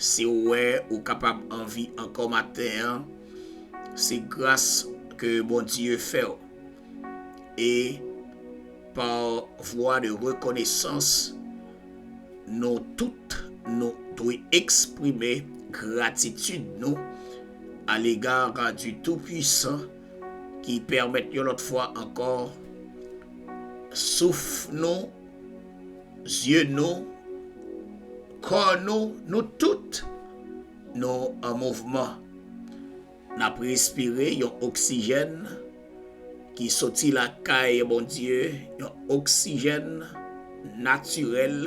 Si ou wè ou kapab anvi ankò maten an, se gras ke Bondye fè w. E pa vwa de rekonesans, nou tout nou dwe eksprime gratitid nou alega du Tout-Puissant ki pèmèt yon lòt fwa ankò souf nou Zye nou, kò nou, nou tout, nou an mouvman. N ap respire yon oksijèn ki soti lakay Bondye, yon oksijèn natirèl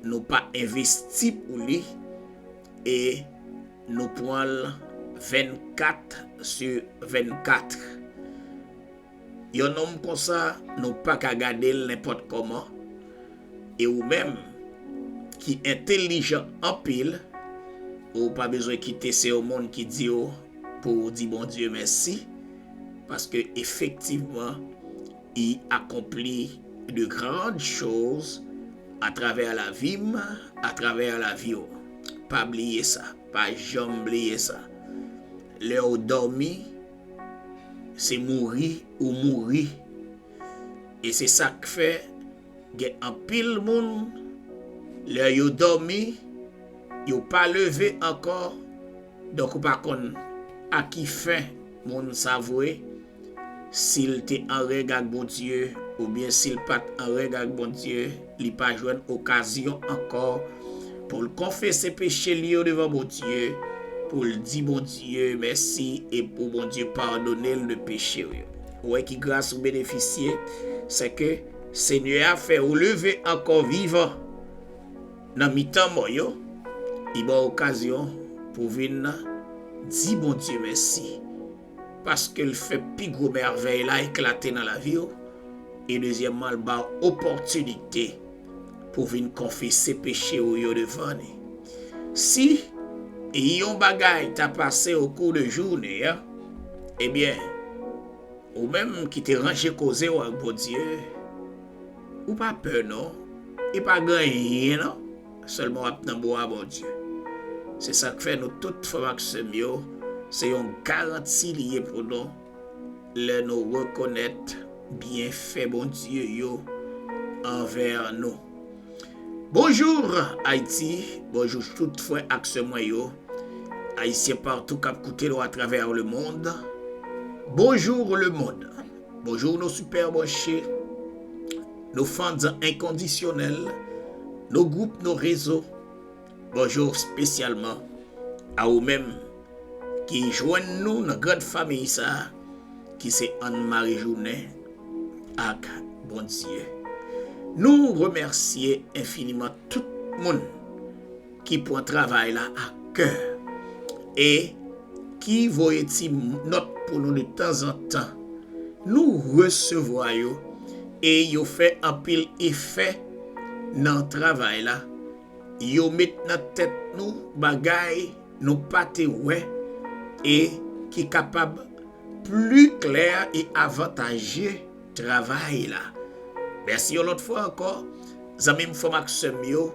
nou pa envesti pou li e nou pran l 24 su 24. Yon nonm konsa nou paka gadel nenpòt kòman e ou menm ki entelijan anpil ou pa bezwen kite se yon moun ki diw pouw di Bondye mèsi paske efektivman I akonpli de grandes choses a travers la vie m a travers la vie w pa bliye sa pa janm bliye sa lèw dòmi Se mouri ou mouri. E se sa k fè gen anpil moun lè yo dòmi yo pa leve ankò donk ou pa konn a ki fen moun sa vwe, si l te an règ ak Bondye oubyen si l pa t an règ ak Bondye. Li pa jwenn okazyon ankò pou l konfese peche l yo devan Bondye, pou l di Bondye mèsi e pou Bondye padone l de peche l yo. Ou wè ki gras ou benefisye, sèke Senyè a fè ou leve ankò vivan nan mitan mò yo, li ba w okazyon pou w vin di Bondye mèsi. paske l fè pi gwo mèvèy la eklate nan lavi w, e dezyèmman l ba w opòtinite pou w vin konfese peche ou yo devan li. Si yon bagay ta pase okou de jounen an, ebyen, ou menm ki te ranje koze w ak Bondye, ou pa pè non, e pa gen anyen nan Sèlman wap nan bon a Bondye. Se sak fè nou tout frèm ak sèm yo se yon garanti li ye pou nou lè nou rekonèt byen fè Bondye yo anvè nou. Bonjour Haïti bonjou tout frè ak sè mwen yo Ayisyen partou kap koute nou atravè le mond bonjour le mond. Bonjour nos super branche, nos fans enkondisyonèl, nos gwoup, nos rezo, bonjour spesyalman a ou menm ki jwenn nou nan grand famiy sa ki se Ann Mare Jounen ak Bondye. Nou remèsye enfiniman tout moun. ki pran travay la ak kè e ki voye ti nòt pou nou de tanzantan. Nou resevwa yo e yo fè anpil efè nan travay la. Yo met nan tèt nou bagay nou pa te wè e ki kapab pli klè e avantaje. travay la. Mèsi yon lòt fwa ankò zanmi m, frè m ak sè m yo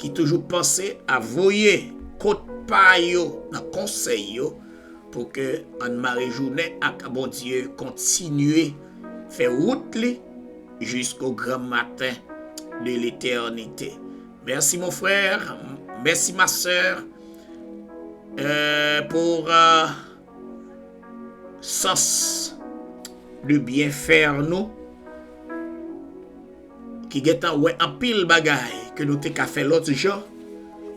ki toujou panse a voye kot pa yo nan konsèy yo pou ke ann mare jounen ak Bondye kontinye fè wout li jisko gran maten de letènite. Mèsi mon frère, mèsi ma sœur pour sans de byen faire nou ki gentan wè anpil bagay ke nou te ka fè lòt jan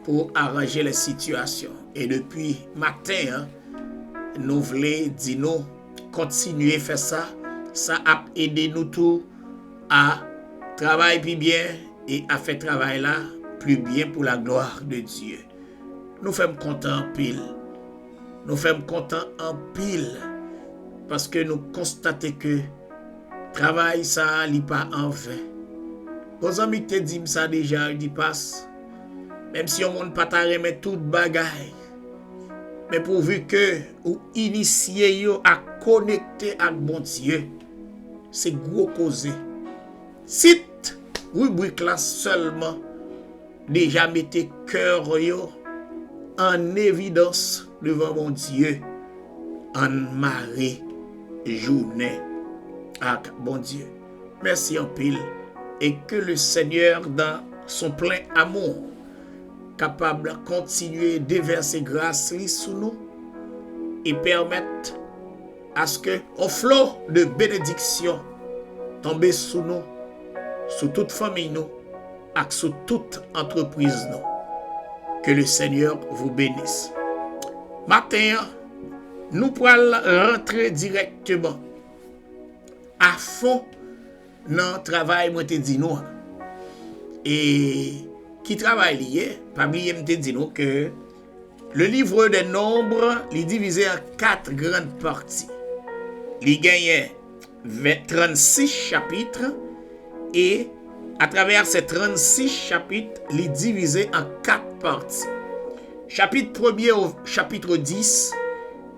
pou aranje lè sitiyasyon e depi maten an nou vle di nou kontinye fè sa sa ap ede nou tou a travay pi byen e a fè travay la pli byen pou la glwa de Dye nou fèm kontan anpil. Nou fèm kontan anpil paske nou konstate ke travay sa a li pa an ven. Yon zanmi te di m sa deja l di Pas, menm si yon moun pa ta renmen tout bagay, men pouvu ke ou inisye yo a konekte ak Bondye, se gwo koze. Tit ribrik la sèlman. Deja mete keur yo an evidans devan Bondye ann mare jounen ak Bondye mèsi anpil e ke le senyè dan son plen amou kapab kontinye devèse gras li sou nou e pèmèt Aske on flo de benediksyon tonbe sou nou, sou tout fanmiy nou ak sou tout antrepriz nou. Que le Seigneur vous benisse. Maten an, nou pral rantre dirèkteman a fon. nan travay mwen te di nou an. E ki travay li ye? Pa bliye m te di nou ke Le Livre des Nombres li divize an 4 grand pati. Li genyen 36 chapitre e a travè se 36 chapitre li divize an 4 pati. Chapit premye ou chapitre 10.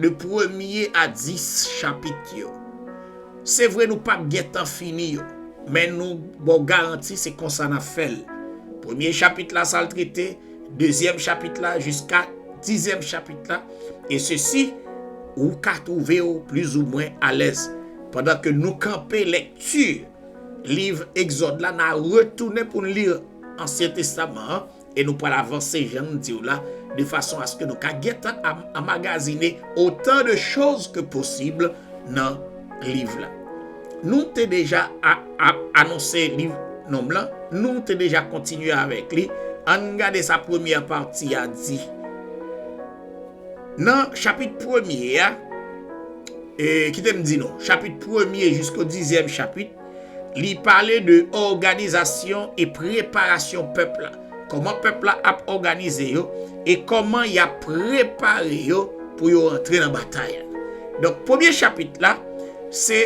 De premye a dis chapit yo. Se vre nou pap gen tan fini yo, men nou ba w garanti se konsa n ap fè l. Premye chapit la sa l trete, dezyèm chapit la jiska dizyèm chapit la, e sesi ou ka twouve w plizoumwen alèz. Pandan ke nou kanpe lekti liv Egzòd la, n a retounen pou n li Ansyen Testaman an. E nou pral avanse jan nou diw la de fason aske nou ka gentan anmagazine otan de choz ke posib nan liv la. Nou te deja anonse liv nonm lan, nou te deja kontinye avèk li, ann gade sa premyè pati a di. Nan chapit premye a, kitem di nou, chapit premye jisko dizyèm chapit. Li pale de òganizasyon e preparasyon pèp la. Kòman pèp la ap òganize yo e kòman y ap prepare yo pou yo antre nan batay la. Donk premye chapit la, se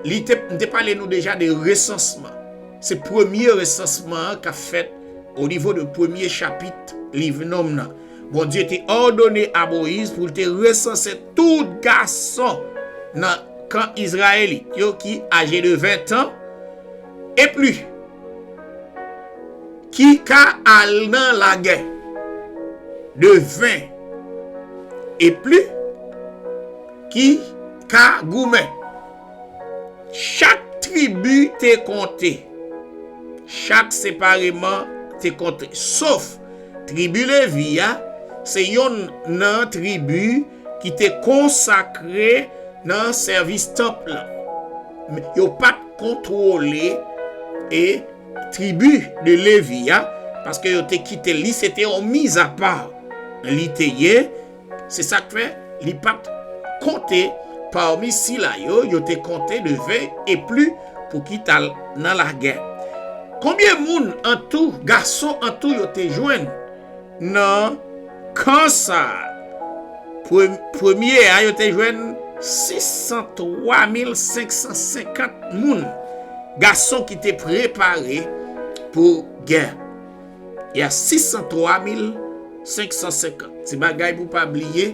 li te, m te pale nou deja de resansman. Se premye resansman an k ap fèt onivo de premye chapit liv Nonm nan. Bondye te òdone a Moyiz pou l te resanse tout gason nan kan Izrayelit yo ki aje de ventan e pli ki ka al nan lagè, de ven e pli ki ka goumen. Chak tribi te konte, chak separeman te konte, sof. Tribi Levi a se youn nan tribi ki te konsakre nan sèvis tanp lan, men, yo pa t kontwole tribi de Levi a paske yo te kite li, se te yon mizapa li te ye. Se sa k fè, li pa t konte pami sila yo yo te konte de ve e pli pou ki t al nan lagè. Konbyen moun antou, gason antou yo te jwenn nan kan sa a? Premye a yo te jwenn 603 mil 550 moun, gason ki te prepare pou gè. E a 603 mil 550. Ti bagay pou pa bliye,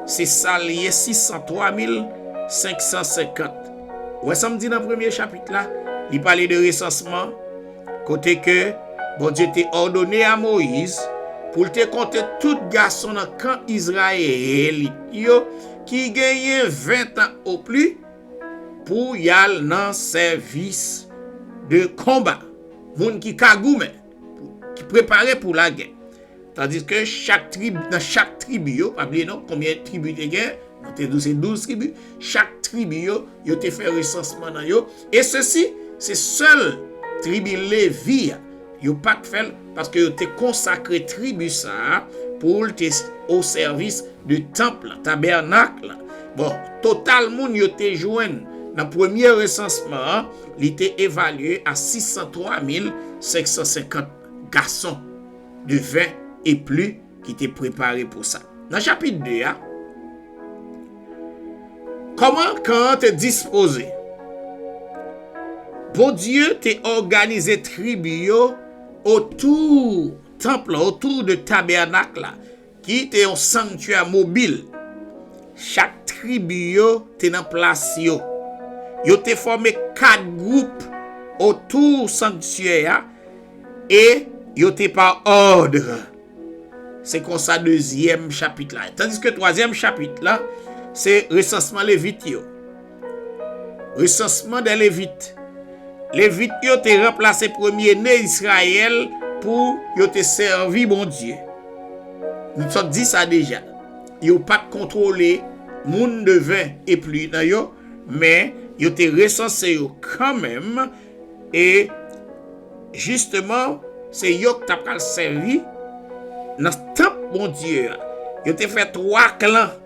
se sa l ye 603 mil 550. Ou wè sa m di nan premye chapit la? Li pale de resansman kote ke Bondye te òdone a Moyiz pou l te konte tout gason nan kan Izrayelit yo ki genyen ventan opli pou y al nan sèvis de konba. Moun ki ka goumen, ki prepare pou lagè. Tandiske chak trib, nan chak tribi yo, pa bliye non, konbyen tribi te gen? Nou te di w se douz tribi. Chak tribi yo, yo te fè resansman nan yo. E sesi, se sèl tribi Levi a, yo pa t fè l, paske yo te konsakre tribi sa a pou l te osèvis de tanp lan, tabènak lan. Bon, total moun yo te jwenn nan premye resansman an, Li te evalye a 603 mil 550 gason de 20 e pli ki te prepare pou sa. Nan chapit 2 a, Kòman kan an te dispoze? Bondye te òganize tribi yo otou tanp la, otou de tabènak la. Ki te yon sanktyè mobil. Chak tribi yo te nan plas yo. Yo te fòme kat gwoup otou sanktyè a e yo te pa òdre. Se konsa dezyèm chapit la ye. Tandiske twazyèm chapit la se resansman Levit yo. Resansman dè Levit Levit yo te ranplase premye ne Israël pou yo te sèvi Bondye. Nou t sot di sa deja. Yo pat kontwole moun de 20 e pli nan yo, men yo te resanse yo kanmenm e jisteman se yo k ta pral sèvi nan tanp Bondye a. Yo te fè 3 klan.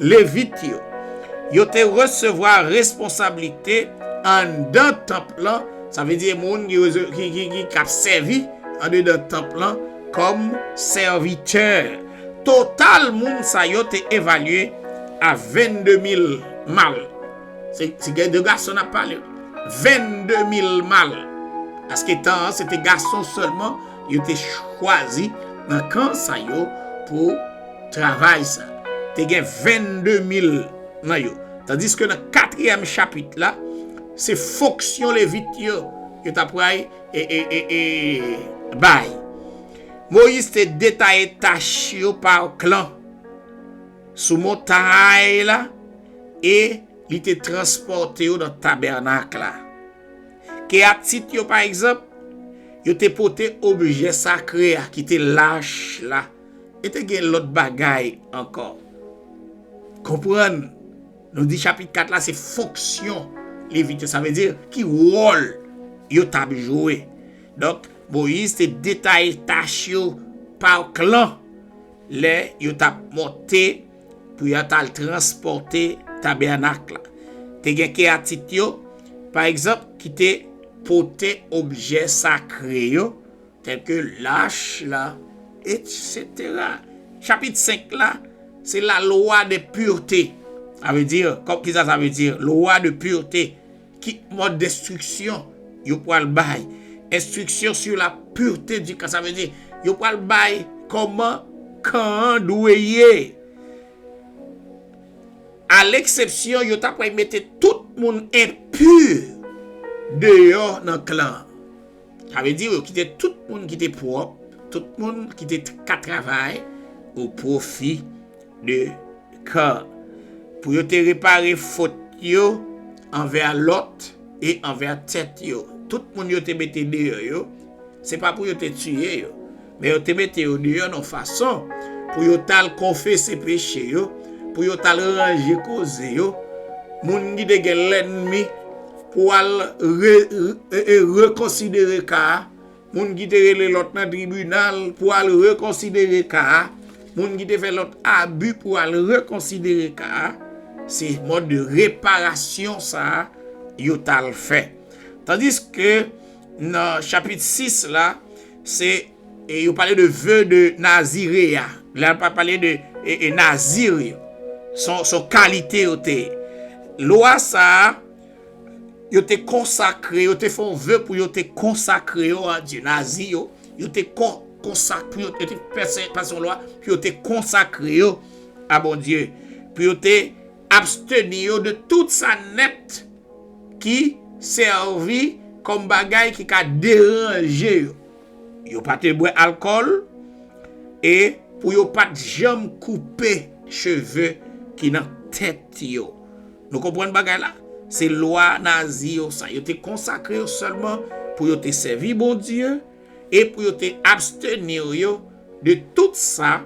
Levit yo. Yo te resevwa responsablite anndan tanp lan, sa vle di moun k ap sèvi andedan tanp lan kòm sèvitè. Total moun sa yo te evalye a 22 mil mal. Se de gason n ap pale. 22 mil mal. Paske tan an se te gason sèlman. Yo te chwazi nan kan sa yo pou travay sa. Te gen 22 mil nan yo. Tandiske nan katriyèm chapit la, se fonksyon Levit yo yo t apral bay. Moyiz te detaye tach yo pa klan sou montay la e li te transpòte yo nan tabènak la. Keatit yo, pa egzanp, yo te pote objè sakre a ki te lach la e te gen lòt bagay ankò. Konprann, nou di chapit 4 la se fonksyon Levit yo, sa vle di ki wòl yo t ap jwe. Donk, Moyiz te detaye tach yo pa klan lè yo t ap monte. Pou y ata l transpòte tabènak la. Te gen Keyatit yo, pa egzanp, ki te pote objè sakre yo, tèlke lach la, etsetera. Chapit 5 la, se la lwa de purte. Sa vle di, kòm ki sa sa vle di, lwa de purte. Ki mòd enstriksyon yo pral bay? Enstriksyon sur la pureté du camp. Sa vle di, yo pral bay kòman kan an dwe ye. A leksepsyon, yo ta pral mete tout moun enpur deyò nan kan an. Sa vle di yo kite tout moun ki te pwòp, tout moun ki te ka travay o pwofi de kè, pou yo te repare fot yo anvè Lòt e anvè tèt yo. Tout moun yo te mete deyò yo, se pa pou yo te tiye yo. Men yo te mete yo deyò nan fason pou yo t al konfese peche yo, pou yo t al ranje koze yo. Moun ki te gen lènmi pou al rekonsidere ka a, moun ki te rele lòt nan tribinal pou al rekonsidere ka a, moun ki te fè lòt abi pou al rekonsidere ka a, se mòd de reparasyon sa a yo t al fè. Tandiske nan chapit 6 la. Se e yo pale de ve de nazire a. Lè a pa pale de e nazir yo. Son son kalite yo te. Lwa sa a yo te konsakre yo te fè yon ve pou yo te konsakre yo a Dye. Nazi yo yo te kon konsakre yo te pèse pase yon lwa pou yo te konsakre yo a Bondye. Pou yo te absteni yo de tout sa nèt. ki sèvi kòm bagay ki ka deranje yo. Yo pa te bwè alkòl e pou yo pa t janm koupe cheve ki nan tèt yo. Nou konprann bagay la? Se lwa Nazi yo sa. Yo te konsakre yo sèlman pou yo te sèvi Bondye. e pou yo te abstenir yo de tout sa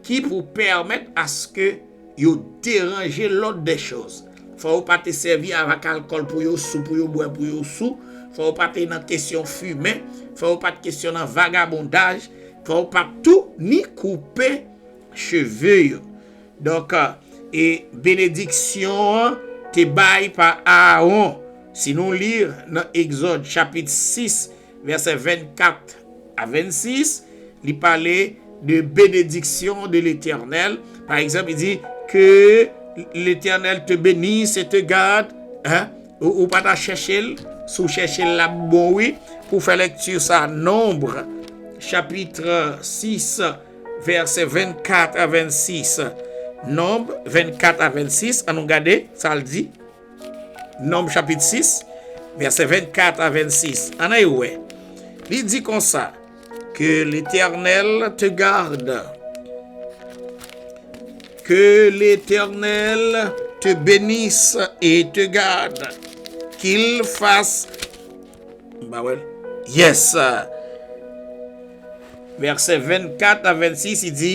ki pou pèmèt aske yo deranje lòd dè chòz. Fò yo pa te sèvi avak alkòl pou yo sou, pou yo bwè pou yo sou, fò yo pa te nan kesyon fimen, fò yo pa t kesyon nan vagabondaj, fò yo pa t tou ni koupe cheve yo. Donk, e benediksyon an te bay pa Aaron, si nou li nan Egzòd chapit 6, Vèsè 24 a 26, li pale de benediksyon de Letènèl. Pa egzanp, li di, Ke Letènèl te benis e te gad. Ou pa ta chèche l? Si w chèche l, l ap bon wi pou w fè lekti sa. Nonb, chapitre 6, vèsè 24 a 26. Nonb, 24 a 26, an nou gade sa l di. Nòm chapit 6, vèsè 24 a 26, ann al wè, li di konsa, Ke Letènèl te gad, ke Letènèl te benis e te gad, ke l fas, m pa wè l, yes, vèsè 24 a 26, li di.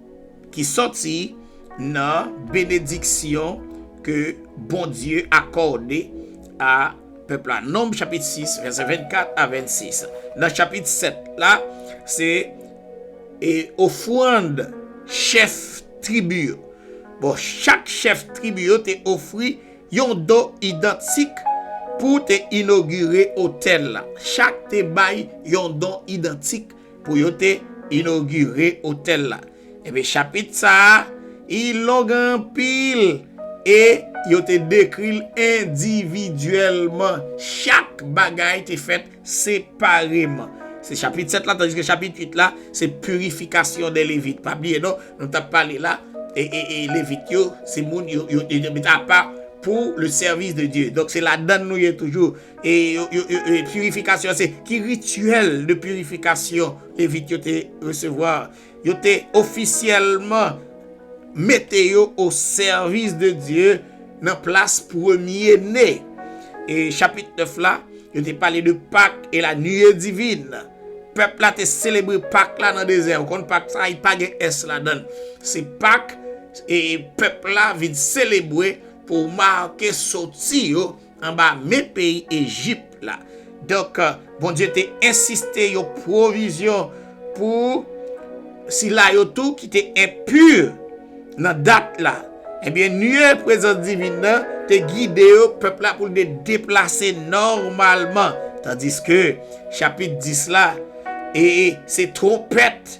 ki sòti nan benediksyon ke Bondye akòde a pèp la. Nonb chapit 6 vèsè 24 a 26. Nan chapit 7 la, se ofrand chèf tribi yo. Bon, chak chèf tribi yo te ofri yon don idantik pou te inogire otèl la. Chak te bay yon don idantik. pou yo te inogire otèl la. Enben, chapit sa a long anpil e yo te dekri l endividyèlman. Chak bagay te fèt separeman. Se chapit 7 la, tandiske chapit 8 la se pirifikasyon dè Levit. Pa bliye non, nou t ap pale la, Levit yo se moun yo te met apa pou lesèvis de Dye. Donk, se ladann nou ye toujou. E purifikasyon se ki rityèl de purifikasyon Levit yo te resevwa? Yo te ofisyèlman mete yo o sèvis de Dye nan plas premye ne. E chapit 9 la, yo te pale de Pak e la nuée divine. Pèp la te selebre Pak la nan dezè. Ou konn Pak sa, li pa gen s ladann. Se Pak e pèp la vin selebre pou make soti yo. anba men peyi Ejip la. Donk, Bondye te ensiste yon pwovizyon pou sila yo tou ki te enpi nan dat la. Ebyen, nuye prezans divin nan te gide yo, pèp la, pou l te deplase nòmalman. Tandiske, chapit 10 la, e se twonpèt.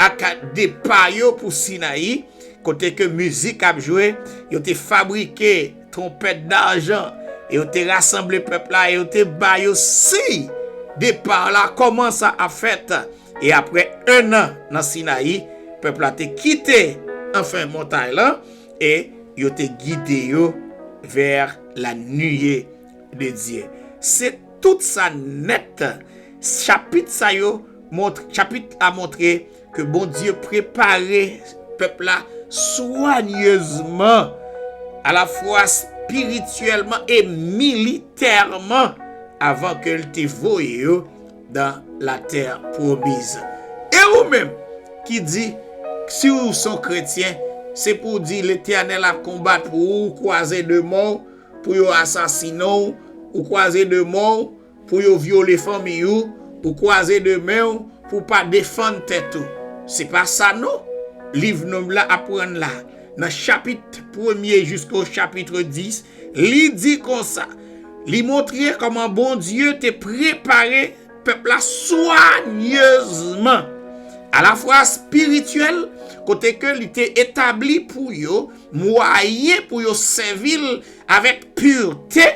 ak depa yo pou Sinayi, kote ke mizik ap jwe, yo te fabrike twonpèt darjan, e yo te rasanble pèp la, e yo te ba yo siy depa la, kòman sa ap fèt. E apre ennan nan Sinayi, pèp la te kite anfen montay lan, e yo te gide yo vè lanuit. de Dye. Se tout sa nèt. Chapit sa yo, chapit la montre ke Bondye prepare pèp la swanyezman alafwa spirityèlman e militèman avan ke l te voye yo nan latè pwomiz. E ou menm ki di si w se yon kretyen, se pou w di Letènèl ap konbat pou ou, kwaze de men w, pou yo asasine w, ou kwaze de men w pou yo vyole fanmi ou, ou kwaze de men w pou w pa defann tèt ou. Se pa sa non liv Nonm la aprann la nan chapit premye jiska o chapitre 10, li di konsa, li montre kòman Bondye te prepare pèp la swanyezman, alafwa espirityèl, kote ke li te etabli pou yo, mwayen pou yo sèvi l avèk purte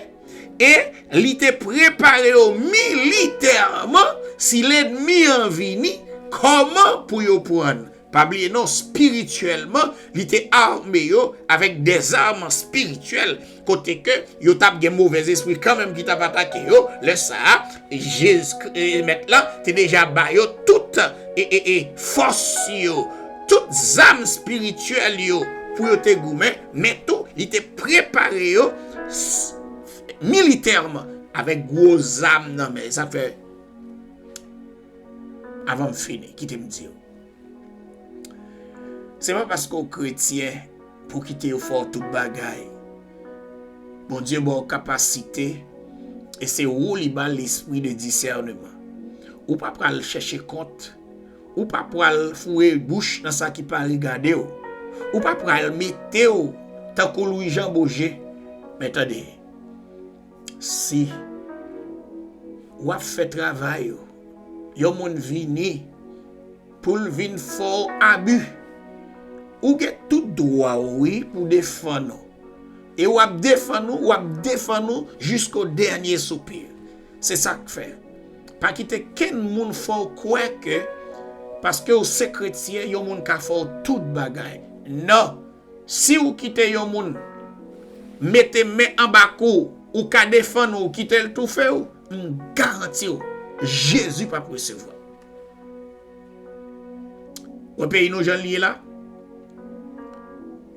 e li te prepare yo militèman si lènmi an vini kòman pou yo pran l. Pa bliye non, spirityèlman, li te ame yo avèk dèzam spirityèl kote ke yo tap gen move zespri kanmenm ki tap atake yo, lè sa a, Jezkri, Mèt la, te deja ba yo tout fòs yo, tout zam espirityèl yo pou yo te goumen, men tou li te prepare yo militèman avèk gwo zam nan men. Sa fè, avan m fini, kite m di w. Se pa paske ou kretyen pou w kite yo fè w tout bagay. Bondye ba w kapasite e se ou li ba lespri de disèneman. Ou pa pral chèche kont, ou pa pral foure bouch nan sa ki pa regade w, ou pa pral mete w tankou Lwijanboje. Men tande! Si wap fè travay ou, yon moun vini poul vin fè w abi, ou gen tout dwa w wi pou defann ou. E wap defann ou, wap defann ou jisko dènye soupir. Se sak fè, pa kite kenn moun fè w kwè ke paske w se kretyen yon moun ka fè w tout bagay. Non! Si ou kite yon moun mete men anba kou w, ou ka defann ou kite l toufe w, m garanti w Jezi p ap resevwa l. Wè peyi nou jan l ye la?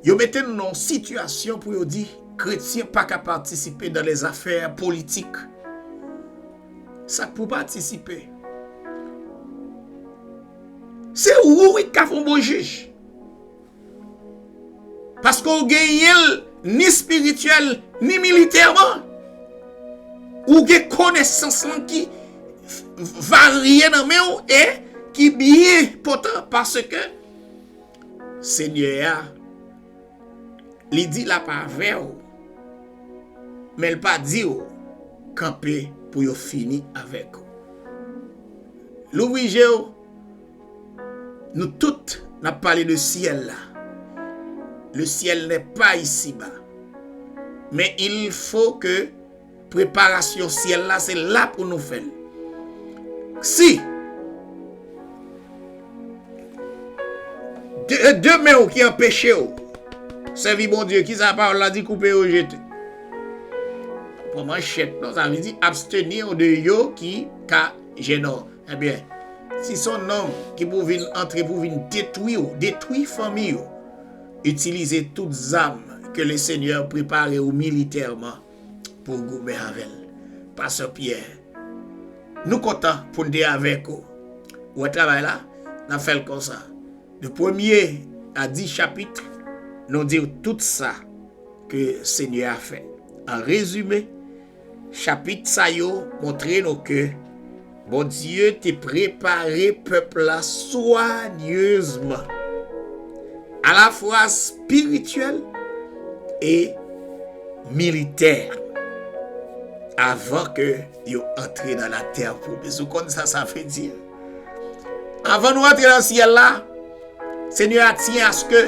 Yo mete nou nan yon sitiyasyon pou yo di kretyen pa ka patisipe nan lèzafè politik. Sa k pou w patisipe? Se ou wi k ka fè yon bon jij. Paske w genyen l ni espirityèl ni militèman. Ou gen konesans lan ki varye nan men w e ki byen enpòtan paske Senyè a li di l ap avè w men l pa di w kanpe pou yo fini avèk ou. Louvri je w. Nou tout nap pale de syèl la. Le ciel n'est pas ici bas. Men il faut ke preparasyon syèl la se la pou nou fè l. Si e de men ou ki anpeche ou sèvi Bondye kisa pawòl la di koupe yo jete. Pran manchèt non sa vle di absteni ou de yo ki ka jèn ou. Ebyen si son nonm ki pou vin antre pou vin detwi ou detwi fanmi ou itilize tout zam ke le senyè prepare ou militèman pou goumen avèl pastè Pyè nou kontan poun te avèk ou ou wè travay la nap fèl konsa de premye a di chapit nou diw tout sa ke senyè a fè an rezime Chapit sa yo montre nou ke Bondye te prepare pèp la swanyezman, alafwa espirityèl e militè, avan ke yo antre nan latè pwomiz. Ou konn sa sa vle di? Avan nou antre nan syèl la, Senyè a tiyen aske.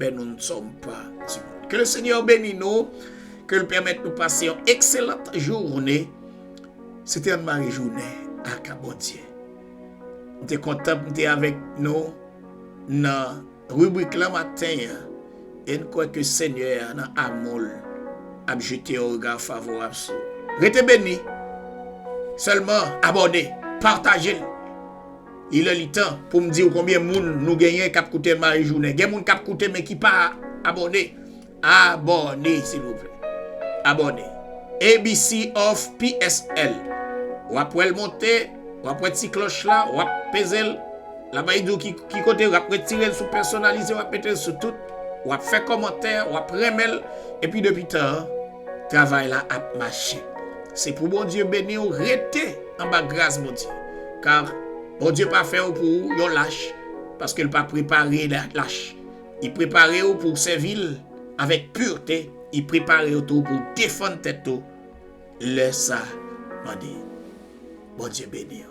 Men nou n som pa ti moun. Ke le Seigneur beni nou. Ke l pèmèt nou pase yon ekselant joune. Se te Anne-Marie Jounen ak Bondye. M te kontan pou m te avèk nou nan ribrik lan maten an. E n kwè ke Senyè a nan amou l ap jete yon rega favorab sou ou. Rete beni. Sèlman abòne, pataje l. Li lè li tan poum diw konbyen moun nou genyen kap koute mayi jounen gen moun kap koute men ki pa abòne abòne silvouplè abòne ABC of psl wap wèl monte wap wè ti klòch la wap pezel lap bay diw ki kote wap retirel sou pèsonalize wap metel sou tout wap fè kòmantè wap renmenl epi depi tan an. Travay la ap mache. Se pou Bondye beniw rete anba gras Bondye car Bondye pa fèw pou yon lach paskel pa prepare lach li preparew pouw sèvil avèk purte li preparew tou pouw defann tèt ou lè sa mande Bondye beniw.